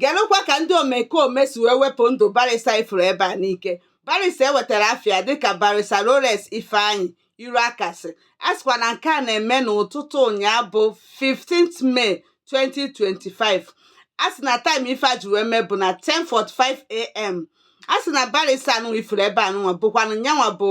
Gelụkwa ka ndị omekome si wee wepụ ndụ Barịsa ị fụrụ ebe a n'ike. Barịsa e wetara afa ya dịka Barịsa Rolex Ifeanyi Iloakasia. A sịkwa na nke a na-eme n'ụtụtụ ụnyaa bụ 15th May 2025. A sị na taịm ife a ji wee mee bụ na 10:45 a.m. A sị na Barịsa anụnwa ị fụrụ ebe anụnwa bụkwanụ nyanwa bụ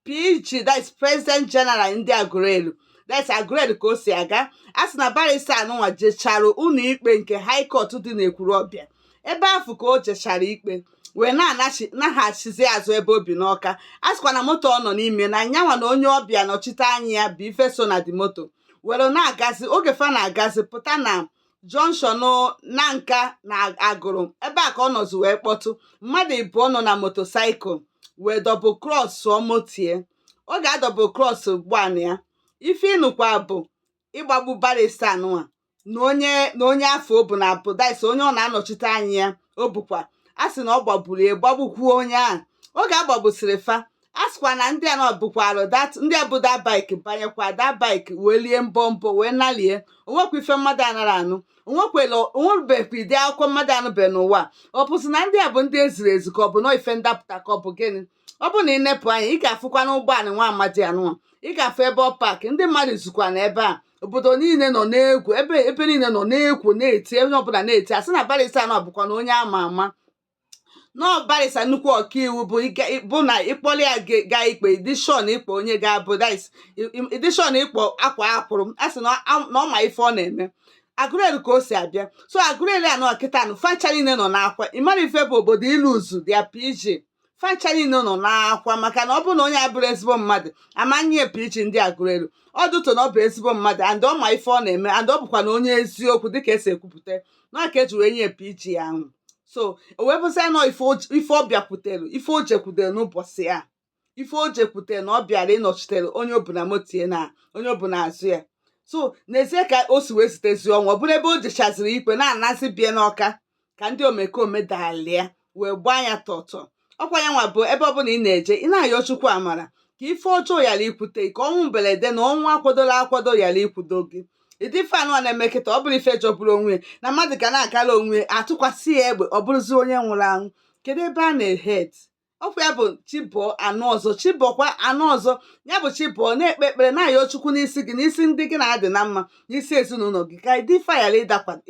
PG that is President General ndị Aguleri that is Aguleri ka o si aga a sị na barista anụnwa jechara ụnọ ikpe nke High Court dị n'Ekwulobia ebe afụ ka o jechara ikpe wee na-anaghachizi azụ ebe o bi n'Ọka a sịkwa na moto ọ nọ n'ime na nyanwa na onye ọ bịa nọchite anya ya bụ ife so na the moto were na-agazi oge fa na-agazi pụta na junction Nanka na Agulu ebe a ka ọ nọzi wee kpọtụ mmadụ ịbụọ nọ na motosaịkụl wee double crossụọ moto ya oge a double cross gbanụ ya ife ị nụkwa bụ ịgbagbu barista anụnwa na onye na onye afụ o bu na-apụ that is onye ọ na-anọchite anya ya o bukwa a sị na ọ gbagburu ya gbagbukwuo onye ahụ oge a gbagbusịrị fa a sịkwa na ndị a nọdụkwalụ that ndị a bu their bike banyekwa their bike wee lie mbọ mbọ wee nalie o nwekwa ife mmadụ anara anụ o nwekwela o nwebekwa ụdị akụkọ mmadụ anụbe n'ụwa ọ bụzi na ndị a bụ ndị e ziri ezi ka ọ bụ na ife ndapụta ka ọ bụ gịnị ọ bụ na ị nepụ anya ị ga-afụkwa n'ụgbọala nwa amadi anụnwa ị ga-afụ ebe ọ paakị ndị mmadụ zukwa na ebe a obodo niile nọ n'egwu ebe ebe niile nọ n'egwu na-eti onye ọbụla na-eti a sị na barịsta na ọ bụkwa na onye a ma ama na ọ barịsa nnukwu ọkaiwu bụ nke bụ na ị kpọrọ ya ga ikpe ị dị sure na ị kpọ onye ga-abụ dis ị dị sure na ị kpọ akwaa akwụrụ a sị na ọ ma ife ọ na-eme Aguleri ka o si abịa so Aguleri a nọ kịta nụ fa ncha niile nọ n'akwa ị mara ife bụ obodo ilose their PG fa ncha niile nọ n'akwa maka na ọ bụrụ na onye a abụrọ ezigbo mmadụ a ma nye ya PG ndị Aguleri ọ dụtụ na ọ bụ ezigbo mmadụ and ọ ma ife ọ na-eme and ọ bụkwa na onye eziokwu dịka e si ekwupụta na ka e ji wee nye PG ahụ so o wee bụzịa na ọ ife ọ bịakwutere ife o jekwutere n'ụbọchị a ife o jekwutere na ọ bịara ịnọchitere onye o bu na moto ya na onye o bu n'azụ ya so n'ezie ka o si wee zutezi ọnwụ ọ bụrụ ebe o jechaziri ikpe na-anazi be ya n'Ọka ka ndị omekome dalịa wee gbaa ya tọtọ ọ kwa ya nwa bụ ebe ọbụla ị na-eje ị na-ayọ chukwu amara ka ife ọjọọ yara ikwute ka ọnwụ mberede na ọnwụ a kwadoro akwado yara ikwudo gị ụdị ife anụnwa na-eme kịta ọ bụrụ ife jọgburu onwe na mmadụ ga na-agara onwe a tụkwasị ya egbe ọ bụrụzi onye nwụrụ anwụ kedu ebe a na-head ọ kwa ya bụ chi bọọ a nụ ọzọ chi bọọkwa a nụ ọzọ ya bụ chi bọọ na-ekpe ekpere na-ayọ chukwu n'isi gị n'isi ndị gị na-adị na mma n'isi ezinụlọ gị ka ụdị ife a ghara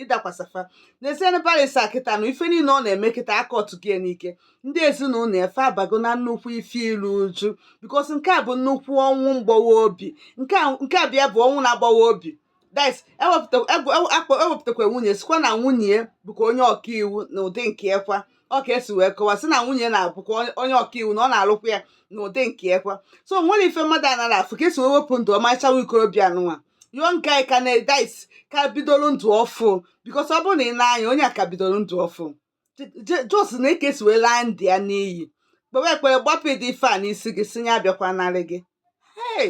ịdakwasa fa n'ezinụlọ barrister kịta na ife niile ọ na-eme kịta aka ọtụgị n'ike ndị ezinụlọ fa abago na nnukwu ife iru uju because nke a bụ nnukwu ọnwụ mgbawa obi nke a bịa bụ ọnwụ na-agbawa obi dis e wepụtakwa e e e nwunye sịkwa na nwunye bụkwa onye ọkaiwu n'ụdị nke ya kwa ọ ka e si wee kọwa sị na nwunye na-abụkwa onye- onye ọkaiwu na ọ na-alụkwa ya n'ụdị nke ya kwa so o nwere ife mmadụ anara afụ ka e si wee wepụ ndụ ọmarịcha nwa ikorobịa nụnwa yo nke anyị ka na-edit ka bidoro ndụ ọfụ because ọ bụrụ na ị nee anya onye a ka bidoro ndụ ọfụ Je- je- just nee ka e si wee laa ndụ ya n'iyi kpewe ekpere gbapụ ụdị ife a n'isi gị sị ya abịakwanarị gị hey